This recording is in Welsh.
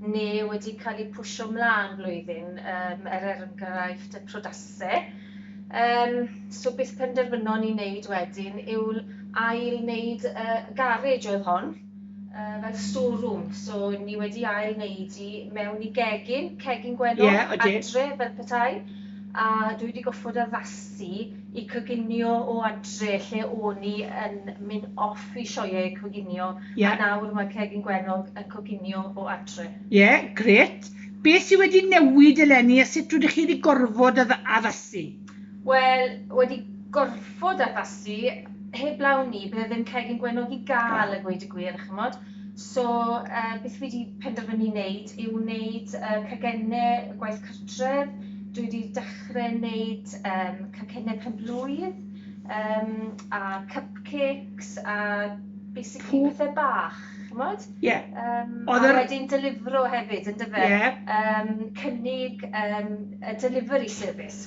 neu wedi cael eu pwsio 'mlaen flwyddyn, yym, er enghraifft y prydase. Yym, so beth penderfynon ni wneud wedyn yw ail-wneud y garej oedd hon, yy, fel store-room. So, ni wedi ail-wneud hi mewn i gegin, cegin gwennol... Ie, odi. ...adre fel petai, a dwi wedi gorfod addasu i coginio o adre lle o'n i yn myn off i sioe coginio yeah. a nawr mae Cegin Gwenog yn coginio o adre. Ie, yeah, gret. Beth sydd wedi newid eleni a sut rydych chi wedi gorfod addasu? Wel, wedi gorfod addasu, heblaw ni, bydd e ddim Cegin Gwenog i gael y gweud y gwir, chymod. So beth fi 'di penderfynu neud yw neud cacenne gwaith cartref, dwi 'di dechre neud cacenne pen-blwydd a cupcakes a basically pethe bach ch'mod? Ie. A wedyn delifro hefyd yndyfe? Ie. Cynnig y delivery service.